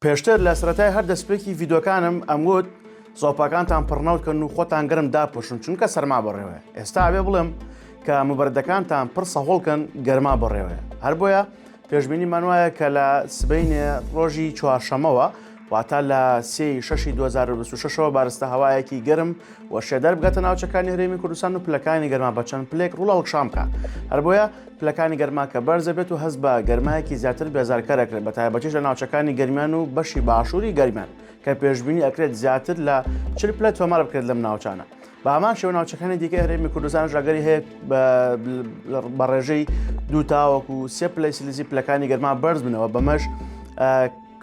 پێشتر لە سەرەتای هەر دەستپێکی ڤیدۆکانم ئەمگوت زۆپاکانتان پڕنەوتکەن و خۆتان گەرم داپۆشن چونکە سەرما بەڕێوەیە ئێستا ئەوێ بڵێم کە مبەردەکانتان پڕ سەهۆڵکەن گەرما بەڕێوەیە هەر بۆیە پێشببینیمان وایە کە لە سبینێ ڕۆژی چوارشەمەوە واتە لە سێ شەشی 2026ەوە بارستە هەوایەکی گەرم و شێدەر بگاتە ناوچەکانی هەرێمی کوردستان و پلەکانی گەرما بەچەند پلێک ڕوڵاڵکشان بکە هەر بۆیە پلەکانی گەرما کە بەرز دەبێت و هەست بە گەرمایەکی زیاتر بێزارکەر دەکرێت بە تایبەتیش لە ناوچەکانی گەرمیان و بەشی باشووری گەرمیان کە پێشببینی ئەکرێت زیاتر لە چل پلە تۆمار بکرێت لەم ناوچانە بە ئامان شێوە ناوچەکانی دیکە هەرێمی کوردستان ژاگەری هەیە بە ڕێژەی دوو تاوەکو و سێ پلەی سلیزی پلەکانی گەرما بەرز بنەوە بەمەش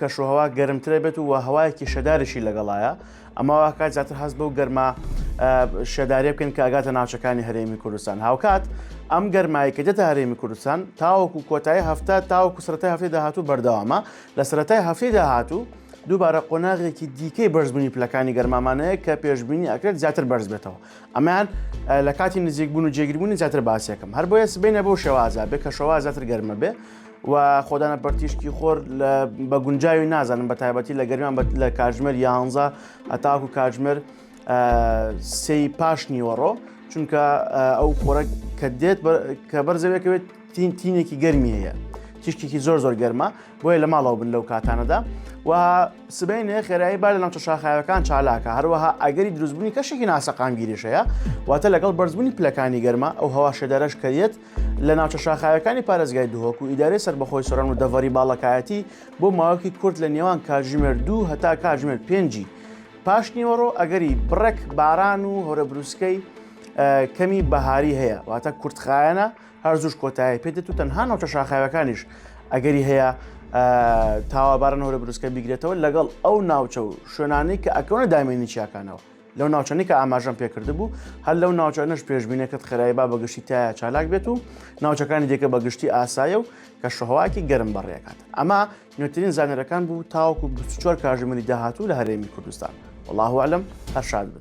کەشوهوا گەرمترە بێت و هەوایەکی شەدارشی لەگەڵایە ئەمە واکات زیاتر هەست بەو گەرما شێدارێ بکەن کە ئەگاتە ناوچەکانی هەرێمی کوردستان هاوکات ئەم گەرمایی کە دێتە هەرێمی کوردستان تاوەکو کۆتایی هەفتە تاوەکو سرەتای هەفتەی داهاتوو بەردەوامە لە سرەتای هەفتەی داهاتوو دووبارە قۆناغێکی دیکەی بەرزبوونی پلەکانی گەرمامانەیە کە پێشببینی ئەکرێت زیاتر بەرز بێتەوە ئەمان لە کاتی نزیکبوون و جێگربوونی زیاتر باسیەکەم هەر بۆیە سبینە بۆ شێوازە بێ کە شەوا زیاتر گەرمە بێ و خۆدانە پەرتیشکی خۆر بە گونجاوی نازانم بە تایبەتی لە گەرمان لە کاژمەر یانزە هەتاکو کاژمەر سی پاش نیوەڕۆ چونکە ئەو خۆرە کە دێت کە بەرزەوێکەوێت تین تینێکی گەرمی هەیە تیشتێکی زۆر زۆر گەرمە بۆیە لە ماڵەوە بن لەو کاتانەدا و سبینێ خێرایی با لە ناوچە شاخایەکان چالاکە هەروەها ئەگەری دروستبوونی کەشێکی ناسەقامگیریشەیە واتە لەگەڵ بەرزبوونی پلەکانی گەرمە ئەو هەوا شێدارەش کەریت لە ناوچە شاخاویەکانی پارێزگای دهۆک و ئیدارەی سەربەخۆی سۆران و دەڤەری باڵەکایەتی بۆ ماوەکی کورت لە نێوان کاتژمێر دوو هەتا کاتژمێر پێنجی پاش نیوەڕۆ ئەگەری بڕێک باران و هەورە بروسکەی کەمی بەهاری هەیە واتە کورتخایەنە هەر زوش کۆتایی پێدێت و تەنها ناوچە شاخاوەکانیش ئەگەری هەیە تاوابارن هەورە بروسکە بیگرێتەوە لەگەڵ ئەو ناوچە و شوێنانی کە ئەکەونە دامێنی چیاکانەوە لەو ناوچەنی کە ئاماژەم پێکردبوو هەر لەو ناوچانش پێشببینەکەت خێرای با بەگشتی تایە چالاک بێت و ناوچەکانی دیکە بەگشتی ئاسایە و کە شەهواکی گەرم بەڕێکات ئەمە نوێترین زانەرەکان بوو تاوکو 24 کاژمەری داهاتوو لە هەرێمی کوردستان وڵاهوالم هەرشاد بن